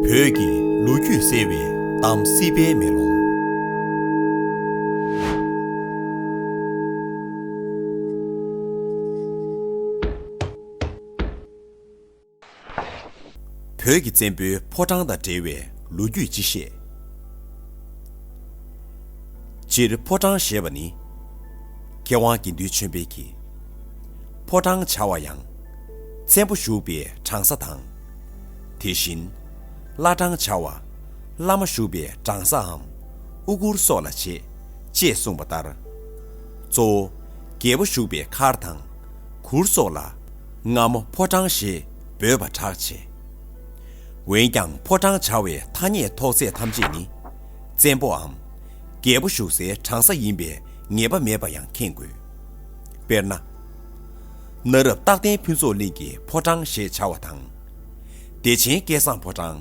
བོད་ཀྱི་ལོ་རྒྱུས་གསལ་བའི་གཏམ་སྲིད་པའི་མེ་ལོང། བོད་ཀྱི་བཙན་པོའི་ཕོ་བྲང་དང་འབྲེལ་བའི་ལོ་རྒྱུས་སྤྱི་བཤད། སྤྱིར་ཕོ་བྲང་ཞེས་པ་ནི། མཁས་དབང་དགེ་འདུན་ཆོས་འཕེལ་གྱིས། ཕོ་བྲང་བྱ་བ་ཡང། བཙན་པོ་བཞུགས་པའི་གྲང་ས་དང། དེ་བཞིན། བླ་བྲང་བྱ་བ། བླ་མ་བཞུགས་པའི་གྲང་སའམ། དབུ་བསྐུར་སོགས་ལ་བྱེད། ཅེས་གསུངས་པ་ལྟར། གཙོ་བོ། རྒྱལ་པོ་བཞུགས་པའི་མཁར་དང། གུར་སོགས་ལ། རྔ་མོ་ཕོ་བྲང་ཞེས་འབོད་པར་གྲགས་ཆེ། འོན་ཀྱང་ཕོ་བྲང་བྱ་བའི་ཐ་སྙད་ཐོགས་ཚད་ཐམས་ཅད་ནི། བཙན་པོའམ། རྒྱལ་པོ་བཞུགས་སའི་གྲང་ས་ཡིན་པའི་ངེས་པ་མེད་པ་ཡང་མཁྱེན་དགོས། དཔེར་ན། གནའ་རབས་རྟག་བརྟན་ཕུན་ཚོགས་གླིང་གི་ཕོ་བྲང་ཞེས་བྱ་བ་དང། བདེ་ཆེན་སྐལ་བཟང་ཕོ་བྲང།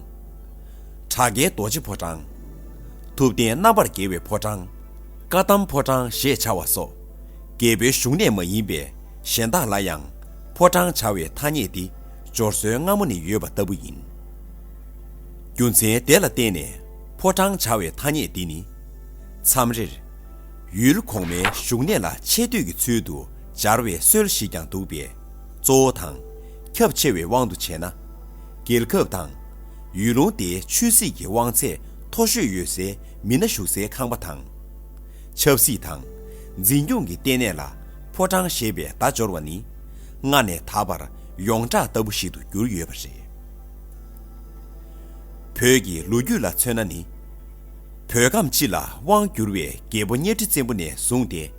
གྲགས་རྒྱལ་རྡོ་རྗེ་ཕོ་བྲང། ཐུབ་བསྟན་རྣམ་པར་རྒྱལ་བའི་ཕོ་བྲང། བཀའ་གདམས་ཕོ་བྲང་ཞེས་བྱ་བ་སོགས། རྒྱལ་པོའི་བཞུགས་གནས་མ་ཡིན་པའི་གཞན་དག་ལ་ཡང་ཕོ་བྲང་བྱ་བའི་ཐ་སྙད་འདི་སྦྱོར་སྲོལ་སྔ་མོ་ནས་ཡོད་པ་ལྟ་བུ་ཡིན། རྒྱུ་མཚན་དེ་ལ་བརྟེན་ནས་ཕོ་བྲང་བྱ་བའི་ཐ་སྙད་འདི་ནི། མཚམས་རེར། ཡུལ་གོང་མའི་བཞུགས་གནས་ལ་ཆེ་བསྟོད་ཀྱི་ཚུལ་དུ་སྦྱར་བའི་སྲོལ་ཞིག་ཀྱང་འདུག་པས། གཙོ་བོ་དང། ཁྱབ་ཆེ་བའི་དབང་དུ་བྱས་ན། རྒྱལ་ཁབ་དང། ཡུལ་ལུང་དེའི་ཆོས་སྲིད་ཀྱི་དབང་ཚད་མཐོ་ཤོས་ཡོད་སའི་མི་སྣ་བཞུགས་སའི་ཁང་པ་དང། ཆབ་སྲིད་དང། འཛིན་སྐྱོང་གི་ལྟེ་གནས་ལ་ཕོ་བྲང་ཞེས་པའི་བརྡ་སྦྱོར་བ་ནི། སྔ་ནས་ད་བར་ཡོངས་གྲགས་ལྟ་བུ་ཞིག་ཏུ་གྱུར་ཡོད་པ་རེད། བོད་ཀྱི་ལོ་རྒྱུས་ལ་མཚོན་ན་ནི། བོད་ཁམས་སྤྱི་ལ་དབང་བསྒྱུར་བའི་རྒྱལ་པོ་གཉའ་ཁྲི་བཙན་པོ་ནས་བཟུང་སྟེ།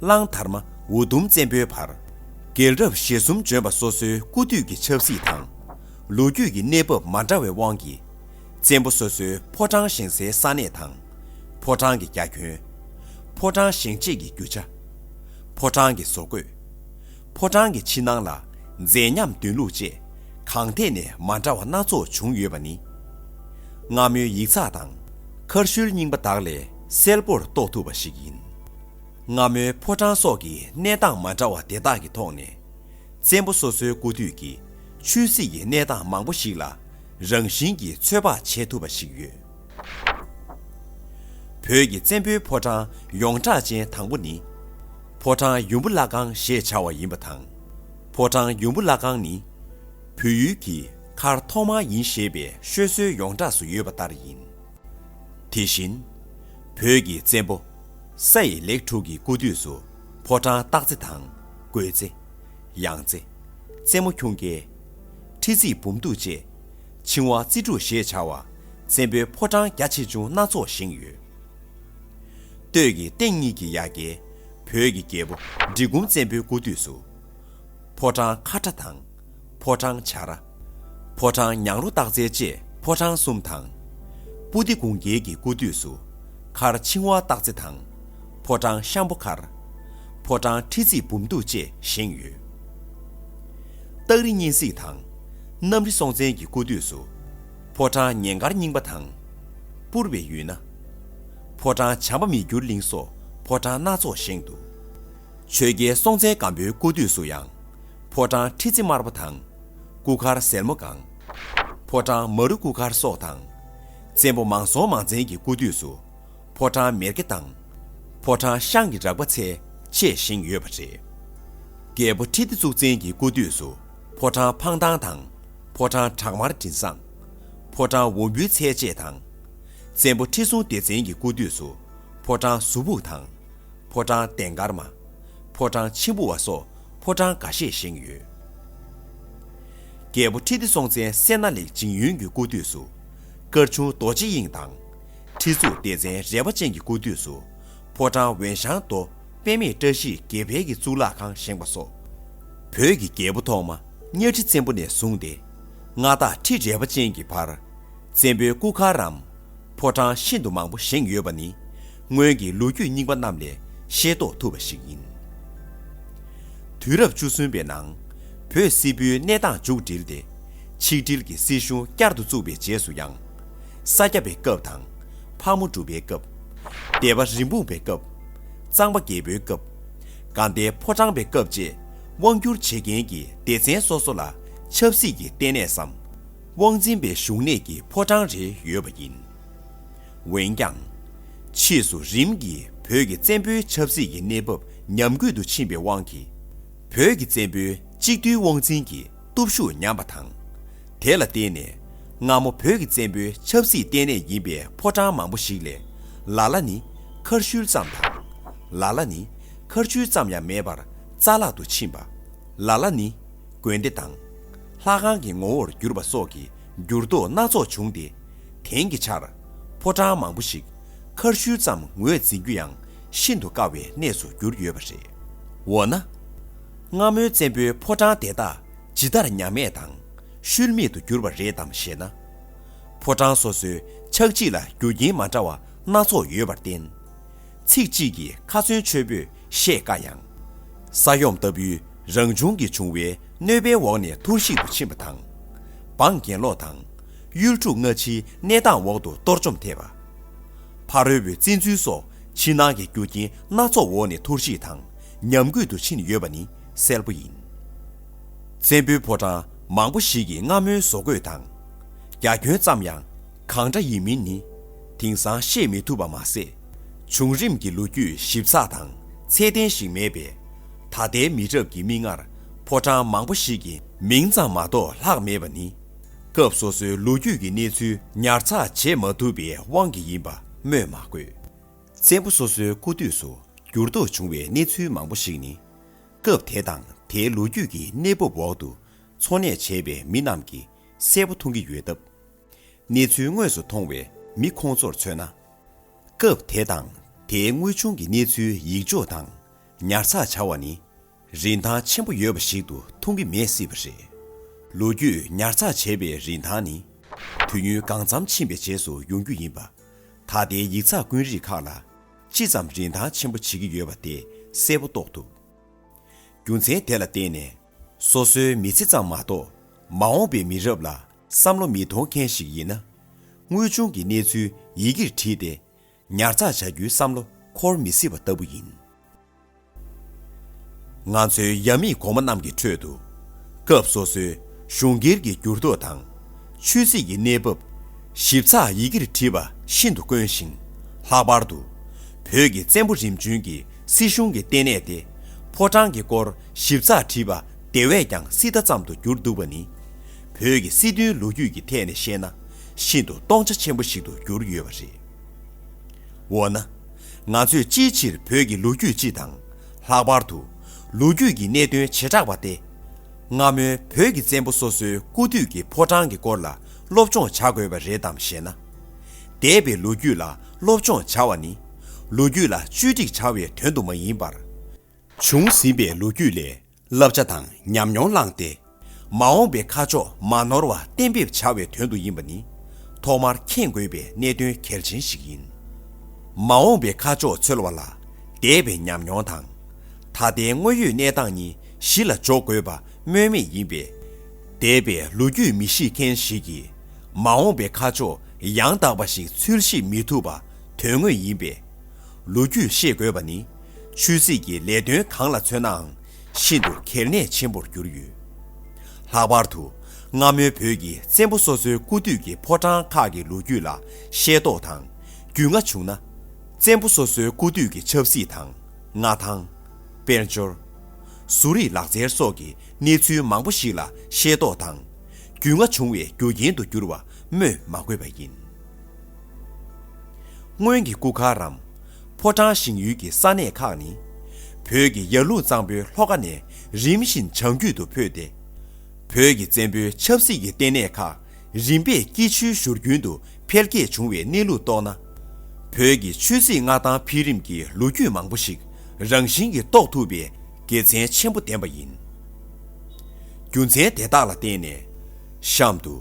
གླང་དར་མ་འུ་དུམ་བཙན་པོའི་བར། རྒྱལ་རབས་ཞེ་གསུམ་འབྱོན་པ་སོ་སོའི་སྐུ་དུས་ཀྱི་ཆབ་སྲིད་དང། ལོ་རྒྱུས་ཀྱི་གནས་བབ་མ་འདྲ་བའི་དབང་གིས། བཙན་པོ་སོ་སོའི་ཕོ་བྲང་བཞེངས་སའི་ས་གནས་དང། ཕོ་བྲང་གི་རྒྱ་ཁྱོན། ཕོ་བྲང་བཞེངས་རྗེས་ཀྱི་རྒྱུ་ཆ། ཕོ་བྲང་གི་བཟོ་བཀོད། ཕོ་བྲང་གི་ཕྱི་ནང་ལ་མཛེས་ཉམས་འདོན་ལུགས་བཅས་གང་ཐད་ནས་མ་འདྲ་བ་སྣ་ཚོགས་བྱུང་ཡོད་པ་ནི། སྔ་མོའི་ཡིག་ཚགས་དང། མཁར་ཤུལ་རྙིང་པ་དག་ལས་གསལ་པོར་རྟོགས་ཐུབ་པ་ཞིག་ཡིན། རྔ་མོའི་ཕོ་བྲང་སོགས་ཀྱི་གནས་སྟངས་མ་འདྲ་བ་དེ་དག་གི་ཐོག་ནས། བཙན་པོ་སོ་སོའི་སྐུ་དུས་ཀྱི་ཆོས་སྲིད་ཀྱི་གནས་སྟངས་མང་པོ་ཞིག་ལ་རང་བཞིན་གྱིས་ཚོད་དཔག་བྱེད་ཐུབ་པ་ཞིག་ཡོད། བོད་ཀྱི་བཙན་པོའི་ཕོ་བྲང་ཡོངས་གྲགས་ཅན་དང་པོ་ནི། ཕོ་བྲང་ཡུམ་བུ་བླ་ཁང་ཞེས་བྱ་བ་ཡིན་པ་དང། ཕོ་བྲང་ཡུམ་བུ་བླ་ཁང་ནི། བོད་ཡུལ་གྱི་མཁར་ཐོག་མ་ཡིན་ཞེས་པའི་ཤོད་སྲོལ་ཡོངས་གྲགས་སུ་ཡོད་པ་ལྟར་ཡིན། དེ་བཞིན། བོད་ཀྱི་བཙན་པོ། ས་ཡི་ལེགས་དྲུག་གི་སྐུ་དུས་སུ། ཕོ་བྲང་སྟག་རྩེ་དང། རྒོད་རྩེ། གཡང་རྩེ། རྩེ་མོ་ཁྱུང་རྒྱལ། ཁྲི་རྩིག་འབུམ་གདུགས་བཅས། ཆིང་བ་རྩེ་དྲུག་ཞེས་བྱ་བ། བཙན་པོའི་ཕོ་བྲང་རྒྱ་ཆེ་ཆུང་སྣ་ཚོགས་བཞེངས་ཡོད། སྟོད་ཀྱི་སྟེང་གཉིས་ཀྱི་ཡ་གྱལ། བོད་ཀྱི་རྒྱལ་པོ་འབྲི་གུང་བཙན་པོའི་སྐུ་དུས་སུ། ཕོ་བྲང་ཁ་ཁྲ་དང། ཕོ་བྲང་བྱར། ཕོ་བྲང་ཉང་རོ་སྟག་རྩེ་བཅས་ཕོ་བྲང་གསུམ་དང། སྤུ་ཏི་གུང་རྒྱལ་གྱི་སྐུ་དུས་སུ། མཁར་འཆིང་བ་སྟག་རྩེ་དང། ཕོ་བྲང་ཤམ་པོ་མཁར། ཕོ་བྲང་ཁྲི་རྩིག་འབུམ་གདུགས་བཅས་བཞེངས་ཡོད། སྟག་རི་གཉན་གཟིགས་དང། གནམ་རི་སྲོང་བཙན་གྱི་སྐུ་དུས་སུ། ཕོ་བྲང་ཉེ་མཁར་རྙིང་པ་དང། སྤུར་བའི་ཡུལ་ན། ཕོ་བྲང་བྱམས་པ་མི་འགྱུར་གླིང་སོགས་ཕོ་བྲང་སྣ་ཚོགས་བཞེངས་འདུག། ཆོས་རྒྱལ་སྲོང་བཙན་སྒམ་པོའི་སྐུ་དུས་སུ་ཡང། ཕོ་བྲང་ཁྲི་རྩེ་དམར་པོ་དང། སྐུ་མཁར་སེར་མོ་གང། ཕོ་བྲང་མ་རུ་སྐུ་མཁར་སོགས་དང། བཙན་པོ་མང་སྲོང་མང་བཙན་གྱི་སྐུ་དུས་སུ། ཕོ་བྲང་མེར་གེ་དང། ཕོ་བྲང་ཤངས་ཀྱི་རགས་པ་ཚད་ཆེས་བཞེངས་ཡོད་པ་རེད། རྒྱལ་པོ་ཁྲི་ལྡེ་གཙུག་བཙན་གྱི་སྐུ་དུས་སུ་ཕོ་བྲང་འཕང་ཐང་དང། ཕོ་བྲང་བྲག་དམར་དྲིན་བཟང། ཕོ་བྲང་འོམ་བུའི་ཚད་ཆེས་དང། བཙན་པོ་ཁྲི་སྲོང་ལྡེ་བཙན་གྱི་སྐུ་དུས་སུ་ཕོ་བྲང་ཟུར་ཕུག་དང། ཕོ་བྲང་གདན་དཀར་མ། ཕོ་བྲང་མཆིམས་ཕུ་བ་སོགས་ཕོ་བྲང་འགའ་ཤས་བཞེངས་ཡོད། རྒྱལ་པོ་ཁྲི་ལྡེ་སྲོང་བཙན་སྲས་སྣ་ལེགས་འཇིང་ཡུན་གྱི་སྐུ་དུས་སུ། སྐར་ཆུང་རྡོ་རྗེ་དབྱིངས་དང། ཁྲི་གཙུག་ལྡེ་བཙན་རལ་པ་ཅན་གྱི་སྐུ་དུས་སུ། ཕོ་བྲང་བན་ཞང་རྡོ་དཔལ་མེས་བཀྲ་ཤིས་དགེ་འཕེལ་གྱི་གཙུག་ལག་ཁང་བཞེངས་པ་སོགས། བོད་ཀྱི་རྒྱལ་པོ་ཐོག་མ་གཉའ་ཁྲི་བཙན་པོ་ནས་བཟུང་སྟེ། མངའ་བདག་ཁྲི་རལ་པ་ཅན་གྱི་བར། བཙན་པོའི་སྐུ་མཁར་རམ། ཕོ་བྲང་ཤིན་ཏུ་མང་པོ་བཞེངས་ཡོད་པ་ནི་སྔོན་གྱི་ལོ་རྒྱུས་རྙིང་པ་རྣམས་ལས་ཤེས་རྟོགས་ཐུབ་པ་ཞིག་ཡིན། དུས་རབས་བཅུ་གསུམ་པའི་ནང་བོད་སིལ་བུའི་གནས་སྟངས་མཇུག་སྒྲིལ་ཏེ། ཆིག་སྒྲིལ་གྱི་སྲིད་གཞུང་བསྐྱར་དུ་བཙུགས་པའི་རྗེས་སུ་ཡང། ས་སྐྱ་པའི་སྐབས་དང། ཕག་མོ་གྲུ་པའི་སྐབས། སྡེ་པ་རིན་སྤུངས་པའི་སྐབས། གཙང་པ་རྒྱལ་པོའི་སྐབས། དགའ་ལྡན་ཕོ་བྲང་པའི་སྐབས་བཅས་དབང་བསྒྱུར་བྱེད་མཁན་གྱི་སྡེ་ཚན་སོ་སོ་ལ་ཆབ་སྲིད་ཀྱི་ལྟེ་གནས་སམ། དབང་འཛིན་པའི་བཞུགས་གནས་ཀྱི་ཕོ་བྲང་རེ་ཡོད་པ་ཡིན། འོན་ཀྱང། ཕྱིས་སུ་རིམ་གྱིས་བོད་ཀྱི་བཙན་པོའི་ཆབ་སྲིད་ཀྱི་གནས་བབ་ཉམས་རྒུད་དུ་ཕྱིན་པའི་དབང་གིས། བོད་ཀྱི་བཙན་པོའི་གཅིག་བསྡུས་དབང་འཛིན་གྱི་སྟོབས་ཤུགས་ཉམས་པ་དང། དེ་ལ་བརྟེན་ནས་སྔ་མོ་བོད་ཀྱི་བཙན་པོའི་ཆབ་སྲིད་ལྟེ་གནས་ཡིན་པའི་ཕོ་བྲང་མང་པོ་ཞིག་ལས་ལ་ལ་ནི་མཁར་ཤུལ་ཙམ་དང། ལ་ལ་ནི་མཁར་ཆུ་ཙམ་ཡང་མེད་པར་རྩ་བརླག་ཏུ་ཕྱིན་པ། ལ་ལ་ནི། དགོན་སྡེ་དང། ལྷ་ཁང་གི་ངོ་བོར་བསྒྱུར་བ་སོགས་ཀྱི་འགྱུར་ལྡོག་སྣ་ཚོགས་བྱུང་སྟེ། དེང་གི་ཆར། ཕོ་བྲང་མང་པོ་ཞིག་མཁར་ཤུལ་ཙམ་ངོས་འཛིན་རྒྱུ་ཡང་ཤིན་ཏུ་དཀའ་བའི་གནས་སུ་གྱུར་ཡོད་པ་རེད། འོ་ན། སྔ་མོའི་བཙན་པོའི་ཕོ་བྲང་དེ་དག་ཇི་ལྟར་ཉམས་མེད་དང་ཤུལ་མེད་དུ་གྱུར་བ་རེད་དམ་ཞེ་ན། ཕོ་བྲང་སོ་སོའི་ཆགས་འཇིག་ལ་རྒྱུ་རྐྱེན་མ་འདྲ་བ་སྣ་ཚོགས་ཡོད་པར་བརྟེན། ཚིག་གཅིག་གིས་ཁ་ཚོན་ཆོད་པོས་བཤད་དཀའ་ཡང། ས་ཡོམ་ལྟ་བུའི་རང་བྱུང་གི་འབྱུང་བའི་གནོད་པའི་འོག་ནས་ཐུར་ཞིག་ཏུ་ཕྱིན་པ་དང། འབངས་གྱེན་ལོག་དང། གཡུལ་འཁྲུག་སྔ་ཕྱིའི་གནས་སྟངས་འོག་ཏུ་གཏོར་བཅོམ་ཐེབས་པ། ཕ་རོལ་བོའི་བཙན་འཛུལ་སོགས་ཕྱི་ནང་གི་རྒྱུ་རྐྱེན་སྣ་ཚོགས་འོག་ནས་ཐུར་ཞིག་དང་ཉམས་རྒུད་དུ་ཕྱིན་ཡོད་པ་ནི་གསལ་པོ་ཡིན། བཙན་པོའི་ཕོ་བྲང་མང་པོ་ཞིག་གི་རྔ་མོའི་བཟོ་བཀོད་དང། རྒྱ་ཁྱོན་ཙམ་ཡང་གང་འདྲ་ཡིན་མིན་ནི་དེང་སང་ཤེས་མི་ཐུབ་པ་མ་ཟད། བྱུང་རིམ་གྱི་ལོ་རྒྱུས་ཞིབ་ཚགས་དང་ཚད་ལྡན་ཞིག་མེད་པས། ད་ལྟའི་མི་རབས་ཀྱི་མིག་སྔར་ཕོ་བྲང་མང་པོ་ཞིག་གི་མིང་ཙམ་མ་གཏོགས་ལྷག་མེད་པ་ནི། སྐབས་སོ་སོའི་ལོ་རྒྱུས་ཀྱི་གནས་ཚུལ་ཉར་ཚགས་བྱེད་མ་ཐུབ་པའི་དབང་གིས་ཡིན་པ་སྨོས་མ་དགོས། བཙན་པོ་སོ་སོའི་སྐུ་དུས་སུ་འགྱུར་ལྡོག་བྱུང་བའི་གནས་ཚུལ་མང་པོ་ཞིག་ནི། སྐབས་དེ་དང་དེའི་ལོ་རྒྱུས་ཀྱི་གནས་བབ་འོག་ཏུ་འཚོ་གནས་བྱས་པའི་མི་རྣམས་ཀྱིས་གསལ་པོ་མཐོང་གི་ཡོད་སྟབས། གནས་ཚུལ་དངོས་སུ་མཐོང་བའི་མི་ཁོང་ཚོར་མཚོན་ན། སྐབས་དེ་དང་དེའི་དངོས་བྱུང་གི་གནས་ཚུལ་ཡིག་འཇོག་དང་ཉར་ཚགས་བྱ་བ་ནི་རིན་ཐང་ཆེན་པོ་ཡོད་པ་ཞིག་ཏུ་མཐོང་གི་མེད་སྲིད་པ་རེད། ལོ་རྒྱུས་ཉར་ཚགས་བྱས་པའི་རིན་ཐང་ནི་དུས་ཡུན་གང་འཚམ་ཕྱིན་པའི་རྗེས་སུ་ཡོང་རྒྱུ་ཡིན་པ། ད་ལྟའི་ཡིག་ཚགས་དཀོན་རིགས་ཁག་ལ་ཅི་ཙམ་རིན་ཐང་ཆེན་པོ་བྱེད་ཀྱི་ཡོད་པ་དེ་གསལ་པོ་རྟོགས་ཐུབ། རྒྱུ་མཚན་དེ་ལ་བརྟེན་ནས། སོ་སོའི་མི་ཚེ་ཙམ་མ་གཏོགས་མ་འོངས་པའི་མི་རབས་ལ་བསམ་བློ་མི་གཏོང་མཁན་ཞིག་ཡིན་ན། དངོས་བྱུང་གི་གནས་ཚུལ་ཡི་གེར་བྲིས་ཏེ་ཉར་ཚགས་བྱ་རྒྱུའི་བསམ་བློ་འཁོར་མི་སྲིད་པ་ལྟ་བུ་ཡིན། ང་ཚོའི་ཡབ་མེས་གོང་མ་རྣམས་ཀྱི་ཁྲོད་དུ། སྐབས་སོ་སོའི་གཞུང་སྒེར་གྱི་འགྱུར་ལྡོག་དང། ཆོས་སྲིད་ཀྱི་གནས་བབ། ཞིབ་ཚགས་ཡི་གེར་བྲིས་པ་ཤིན་ཏུ་དཀོན་ཞིང། ལྷག་པར་དུ། བོད་ཀྱི་བཙན་པོ་རིམ་བྱོན་གྱི་སྲིད་གཞུང་གི་ལྟེ་གནས་ཏེ་ཕོ་བྲང་གི་སྐོར་ཞིབ་ཚགས་བྲིས་པ་དེ་བས་ཀྱང་སྲིད་མཐའ་ཙམ་དུ་གྱུར་འདུག་པ་ནི། བོད་ཀྱི་སྲིད་དོན་ལོ་རྒྱུས་ཀྱི་ཐད་ནས་བཤད་ན་ཤིན་ཏུ་སྟོང་ཆ་ཆེན་པོ་ཞིག་ཏུ་གྱུར་ཡོད་པ་རེད། འོ་ན། ང་ཚོས་ཅིའི་ཕྱིར་བོད་ཀྱི་ལོ་རྒྱུས་སྤྱི་དང། ལྷག་པར་དུ། ལོ་རྒྱུས་ཀྱི་གནད་དོན་བྱེ་བྲག་པ་སྟེ། སྔ་མོའི་བོད་ཀྱི་བཙན་པོ་སོ་སོའི་སྐུ་དུས་ཀྱི་ཕོ་བྲང་གི་སྐོར་ལ་སློབ་སྦྱོང་བྱ་དགོས་པ་རེད་དམ་ཞེ་ན། འདས་པའི་ལོ་རྒྱུས་ལ་སློབ་སྦྱོང་བྱ་བ་ནི། ལོ་རྒྱུས་ལ་བཅོས་སྒྲིག་བྱ་བའི་དོན་དུ་མ་ཡིན་པར། བྱུང་ཟིན་པའི་ལོ་རྒྱུས་ལས་བསླབ་བྱ་དང་ཉམས་མྱོང་བླངས་ཏེ། མ་འོངས་པའི་ཁ་ཕྱོགས་མ་ནོར་བ་གཏན་འབེབས་བྱ་བའི་དོན་དུ་ཡིན་པ་ནི་ཐོག་མར་མཁྱེན་དགོས་པའི་གནད་དོན་གལ་ཆེན་ཞིག་ཡིན། མ་འོངས་པའི་ཁ་ཕྱོགས་འཚོལ་བ་ལ་འདས་པའི་ཉམས་མྱོང་དང། ད་ལྟའི་དངོས་ཡོད་གནས་སྟངས་གཉིས་གཞི་ལ་འཇོག་དགོས་པ་སྨོས་མེད་ཡིན་པས། འདས་པའི་ལོ་རྒྱུས་མི་ཤེས་མཁན་ཞིག་གིས་མ་འོངས་པའི་ཁ་ཕྱོགས་ཡང་དག་པ་ཞིག་འཚོལ་ཤེས་མི་ཐུབ་པ་དོན་དངོས་ཡིན་པས། ལོ་རྒྱུས་ཤེས་དགོས་པ་ནི་ཆོས་སྲིད་ཀྱི་ལས་དོན་གང་ལ་མཚོན་ནའང་ཤིན་ཏུ་གལ་གནད་ཆེན་པོར་གྱུར་ཡོད། ལྷག་པར་དུ་སྔ་མོའི་བོད་ཀྱི་བཙན་པོ་སོ་སོའི་སྐུ་དུས་ཀྱི་ཕོ་བྲང་ཁག་གི་ལོ་རྒྱུས་ལ་ཤེས་རྟོགས་དང་རྒྱུས་མངའ་བྱུང་ན། བཙན་པོ་སོ་སོའི་སྐུ་དུས་ཀྱི་ཆབ་སྲིད་དང། མངའ་ཐང། དཔལ་འབྱོར། གསོ་རིག་ལག་རྩལ་སོགས་ཀྱི་གནས་ཚུལ་མང་པོ་ཞིག་ལ་ཤེས་རྟོགས་དང་རྒྱུས་མངའ་བྱུང་བའི་རྒྱུ་རྐྱེན་དུ་གྱུར་བ་སྨོས་མ་དགོས་པ་ཡིན། སྔོན་གྱི་སྐུ་མཁར་རམ། ཕོ་བྲང་ཞིང་ཡུལ་གྱི་ས་གནས་ཁག་ནི། བོད་ཀྱི་ཡར་ཀླུང་གཙང་པོའི་ལྷོ་ཁ་ནས་རིམ་བཞིན་བྱང་རྒྱུད་དུ་འཕོས་ཏེ། བོད་ཀྱི་བཙན་པོའི་ཆབ་སྲིད་ཀྱི་ལྟེ་གནས་ཁག་རིམ་པས་སྐྱིད་ཆུའི་བཞུར་རྒྱུན་དུ་འཕེལ་རྒྱས་བྱུང་བའི་གནས་ལུགས་རྟོགས་ན། བོད་ཀྱི་ཆོས་སྲིད་མངའ་ཐང་འཕེལ་རིམ་གྱི་ལོ་རྒྱུས་མང་པོ་ཞིག་རང་བཞིན་གྱིས་རྟོགས་ཐུབ་པའི་དགེ་མཚན་ཆེན་པོ་ལྡན་པ་ཡིན། རྒྱུ་མཚན་དེ་དག་ལ་བརྟེན་ནས། གཤམ་དུ་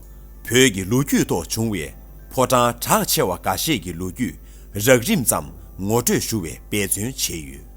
བོད་ཀྱི་ལོ་རྒྱུས་ཐོག་བྱུང་བའི་ཕོ་བྲང་གྲགས་ཆེ་བ་འགའ་ཤས་ཀྱི་ལོ་རྒྱུས་རགས་རིམ་ཙམ་ངོ་སྤྲོད་ཞུ་བའི་འབད་བརྩོན་བྱས་ཡོད།